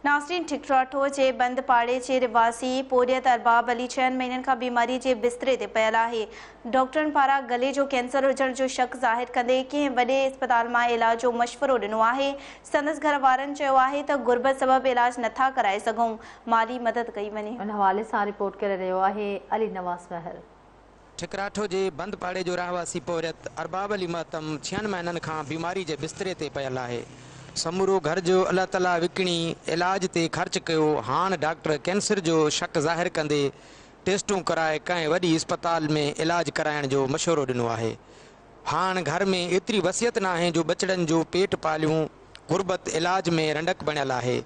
ناصرين ٺڪراٺو جي بند پاڙي جي رھواسي پورھيت ارباب علي ڇهن مھينن کان بيماري جي بستري تي پيل آھي. ڊاڪٽرن پاران گلي جو ڪينسر ھجڻ جو شڪ ظاھر ڪندي ڪنھن وڏي اسپتال مان علاج جو مشورو ڏنو آھي. سندس گھر وارن چيو آھي ته غربت سبب علاج نٿا ڪرائي سگھون، مالي مدد ڪئي وڃي. ان حوالي سان رپورٽ ڪري رھيو آھي علي نواز مهر. ٺڪراٺو جي بند پاڙي جو رهواسي پورهيت ارباب علي مهتم ڇهن مهينن کان بيماري جي بستري تي پيل آهي. سمورو گهر جو الله تعاليٰ وڪڻي علاج تي خرچ ڪيو، هاڻ ڊاڪٽر ڪينسر جو شڪ ظاهر ڪندي ٽيسٽون ڪرائي ڪنهن وڏي اسپتال ۾ علاج ڪرائڻ جو مشورو ڏنو آهي. هاڻ گهر ۾ ايتري وسعت ناهي جو ٻچڙن جو پيٽ پاليون، غربت علاج ۾ رنڊڪ بڻيل آهي.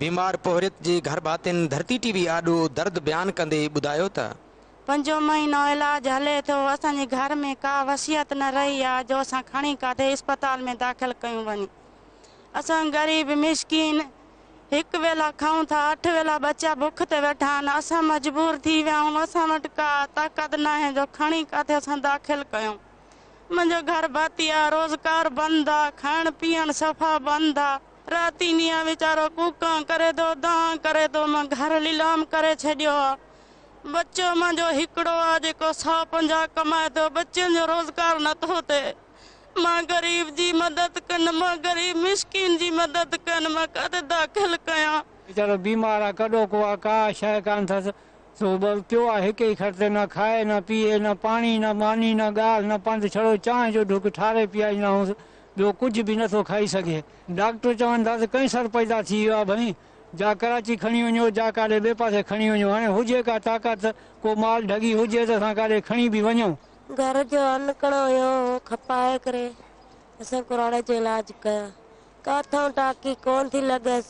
بيمار پورهيت جي گهرڀاتين ڌرتي ٽي وي آڏو درد بيان ڪندي ٻڌايو ته. پنجون مهينو علاج هلي ٿو، اسان جي گهر ۾ ڪا وصيت نه رهي آ جو اسان کڻي ڪاٿي اسپتال ۾ داخل ڪيون وڃي. اسان غريب مسڪين هڪ ويلا کائون ٿا، اٺ ويلا ٻچا بک تي ويٺا آهن، اسان مجبور ٿي ويا آهيون، اسان وٽ ڪا طاقت ناهي جو کڻي ڪاٿي اسان داخل ڪيون. منهنجو گهر ڀاتي آ، روزگار بند آ، کائڻ پيئڻ صفا بند آ. راتينيا ويچارو ڪوڪان ڪري ٿو، دانهن ڪري ٿو، مان گهر ليلام ڪري ڇڏيو آ. ٻچو منهنجو هڪڙو آ جيڪو سؤ پنجاهه ڪمائي ٿو ٻچن جو روزگار نٿو ٿئي مان غريب جي مدد ڪن مان غريب مسڪين جي مدد ڪن مان ڪاٿي داخل ڪيان. ويچارو بيمار آ ڪڏو ڪو آ ڪا شيء ڪانه ٿس سو ٻه پيو آ هڪ ئي کٽ تي نه کائي نه پيئي نه پاڻي نه ماني نه ڳالهه نه پنڌ ڇڙو چانهه جو ڍڪ ٺاري پيائيندا هونس ٻيو ڪجهه به نٿو کائي سگهي ڊاڪٽر چون ٿا ته ڪئنسر پيدا ٿي ويو آ ڀئين جا ڪراچي کڻي وڃو، جا ڪاڏي ٻئي پاسي کڻي وڃو، هاڻي هجي ڪا طاقت ته ڪو مال ڍڳي هجي ته اسان ڪاڏي کڻي به وڃون. گهر جو ان ڪڻو هيو، اهو کپائي ڪري اسين ڪراڙي جو علاج ڪيو. ڪاٿئون ٽاڪي ڪونه ٿي لڳس.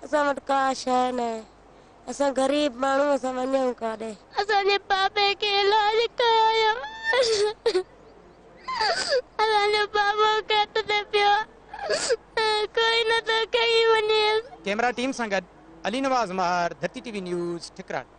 اسان وٽ ڪا شيء ناهي. اسان غريب ماڻهو، اسان وڃون ڪاڏي؟ اسان جي بابي کي علاج ڪرايو. اسان جو بابو ڪيٽ تي پيو ڪوئي نه ٿو کئي وڃيس. ڪيمرا ٽيم سان گڏ Ali Nawaz Mahir Dharti T V news ٺڪراڻ.